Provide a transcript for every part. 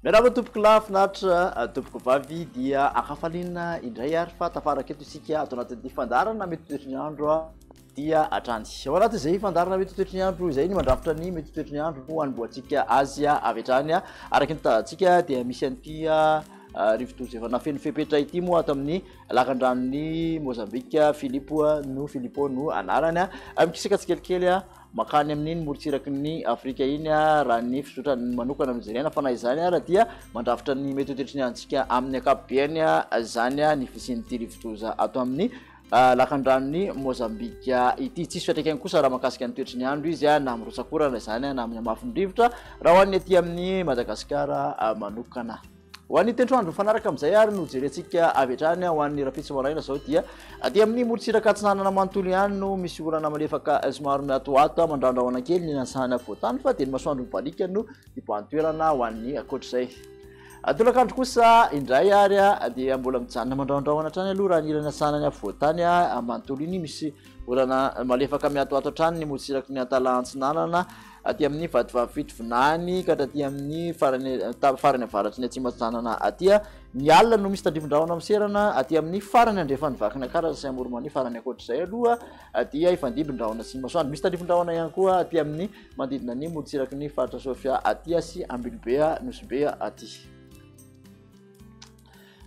Miarahaba tompoko lahy finaritra tompoko vavy dia akafaliana indray ary fa tafaraka eto isika ato anatin'ity fandaharana mety toetry ny andro dia hatrany. Ao anatin'izay fandaharana mety ho toetry ny andro izay no mandrafitra ny mety ho toetry ny andro no hanombohantsika azy avy hatrany. Araka ny tanjantsika dia misy an'ity rivodoza efa nafeno fepetra ity moa ato amin'ny lakandranon'i Mozambika, Filipo no Filipo no anarany. Mikisaka tsikelikely makany amin'iny morontsiraky ny Afrika iny raha ny fizotrany manokana no jerena fa na izany ara dia mandrafitra ny mety ho toetry ny androntsika amin'ny ankapobeny izany ny fisian'ity rivodoza ato amin'ny Lakandranon'i Mozambika ity. Tsisy fiantraikany kosa raha mahakasika ny toetry ny andro izy na amin'ny rotsakorana izany na amin'ny hamafin'ny rivotra raha ho an'ny aty amin'ny Madagasikara manokana. Ho an'ny tendro andro mifanaraka amin'izay ary no jerentsika avy hatrany ho an'ny rahampitso maraina izao dia aty amin'ny morontsiraka atsinanana manontolo ihany no misy orana malefaka somary miatoato mandrandrahona kely ny lantsahana afovoantany fa dia ny masoandro mibaliaka no hibahan-toerana ho an'ny ankoatr'izay. Tolakandro kosa indray ary dia mbola mijanona mandrahondrahona hatrany aloha raha ny ilany atsinanan'ny afovoantany manontolo iny, misy orana malefaka mihatohato hatrany ny morontsiraky ny Antalaha antsinanana, aty amin'ny vatovavy fitovinany ka hatraty amin'ny farany farany avaratry ny atsimo atsinanana aty. Ny alina no misy tandrifin-drahona miserana aty amin'ny farany andrefan'i Vakinakaratra sy Amoron'Mania, fa raha ny ankoatr'izay aloha dia hifandimby ny rahona sy ny masoandro. Misy tandrifin-drahona ihany koa aty amin'ny Manodidina ny morontsiraky ny faritra Sofia aty sy Ambilobe Nosy-Be aty.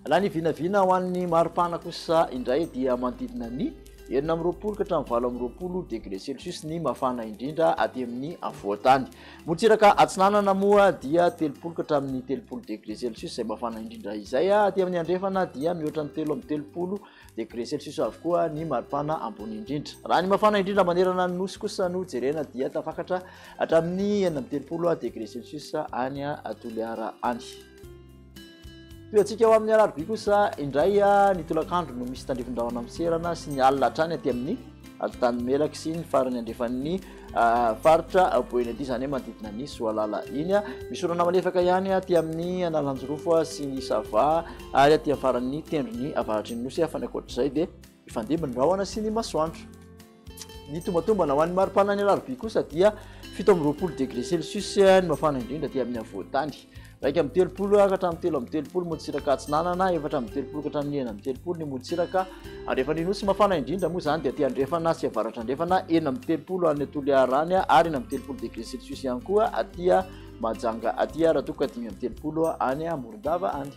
Raha ny vinavina ho an'ny maripana kosa indray dia manodidina ny enina amby roapolo ka hatramin'ny valo amby roapolo degré celsius ny mafana indrindra aty amin'ny afovoan-tany. Morontsiraka atsinanana moa dia telopolo ka hatramin'ny telopolo degré celsius izay mafana indrindra izay. Aty amin'ny andrefana dia mihoatra ny telo amby telopolo Degré celsius avokoa ny maripana ambony indrindra. Raha ny mafana indrindra manerana ny nosy kosa no jerena dia tafakatra hatramin'ny enina amby telopolo degré celsius any Toliara any. Tohantsika ho amin'ny alarobia kosa indray ny tolakandro no misy tandrifin-drahona miserana sy ny alina hatrany aty amin'ny alintany melaky sy ny farany andrefan'ny Faritra Boenadia izany hoe manodidina an'i Soalala iny. Misy orana malefaka ihany aty amin'ny Analanjirofo sy ny Sava ary aty amin'ny faran'ny tendrony avaratr'iny nosy fa ny ankoatr'izay dia mifandimby ny rahona sy ny masoandro. Ny tombatombana ho an'ny maripanan'ny alarobia kosa dia fito amby roapolo degré celsius ny mafana indrindra aty amin'ny afovoan-tany. Iraika amby telopolo ka hatramin'ny telo amby telopolo motsiraka atsinanana, efatra amby telopolo ka hatramin'ny enina amby telopolo ny motsiraka andrefana. Ny nosy mafana indrindra moa izany dia aty andrefana sy avaratrandrefana, enina amby telopolo any Toliarany ary enina amby telopolo degré celsius ihany koa aty Mahajanga aty, raha toa ka dimy amby telopolo any Morondava any.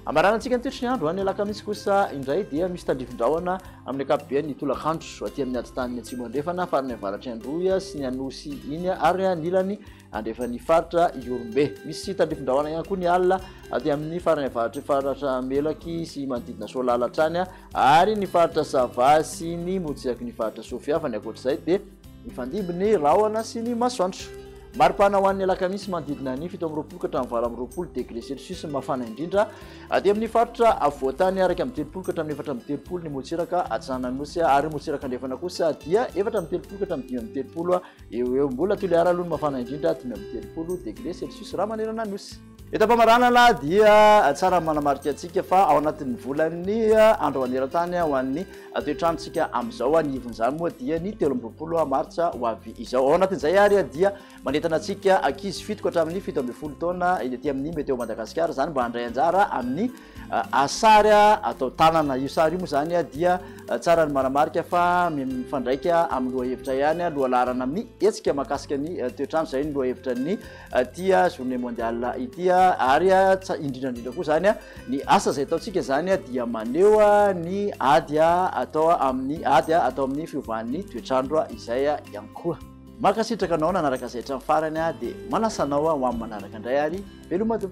Ambaranantsika ny toetry ny andro, ny alakamisy kosa indray dia misy tandrifin-drahona amin'ny ankapobeny ny tolakandro, aty amin'ny atitaniny atsimo andrefana, farany avaratry Androy sy ny Anosy iny ary anilany andrefan'ny faritra Ihorombe. Misy tandrifin-drahona ihany koa ny alina aty amin'ny farany avaratry faritra Melaky sy manodidina Soalala hatrany ary ny faritra Sava sy ny motsiaky ny faritra Soafiavana. Ankoatr'izay dia Mifandimby ny rahona sy ny masoandro. Mari-pana ho an'ny alakamisy manodidina ny fito amby roapolo ka hatramin'ny valo amby roapolo degré celsius ny mafana indrindra aty amin'ny faritra afovoan-tany araka amin'ny telopolo ka hatramin'ny efatra amby telopolo ny motsiraka atsinanan'osy ary motsiraka andrefana kosa dia efatra amby telopolo ka hatramin'ny dimy amby telopolo eo eo mbola toliara aloha ny mafana indrindra dimy amby telopolo degré celsius raha manerana ny osy Eto am-pamaranana dia tsara ny manamarika antsika fa ao anatin'ny volan'ny andro maneran-tany ho an'ny toetranontsika amin'izao, ny ivon'izany moa dia ny telo amby roapolo martsa ho avy izao. Ao anatin'izay ary dia manentana antsika ankizy fito ka hatramin'ny fito ambin'ny folo taona eny aty amin'ny Météo Madagascar izany mba handray anjara amin'ny sary atao tanana. Io sary io moa izany dia tsara ny manamarika fa mifandraika amin'ny lohahevitra ihany, lohalaharana amin'ny hetsika mahakasika ny toetrandro, izay ny lohahevitra ny. ity journée mondiale ity ary indrindra indrindra koa zany ny asa izay ataontsika zany dia maneho ny ady atao amin'ny ady atao amin'ny fiovan'ny toetr'andro izay ihany koa mankasitraka anao nanaraka izay hatramin'ny farany dia manasa anao ho amin'ny manaraka indray ary velomatoa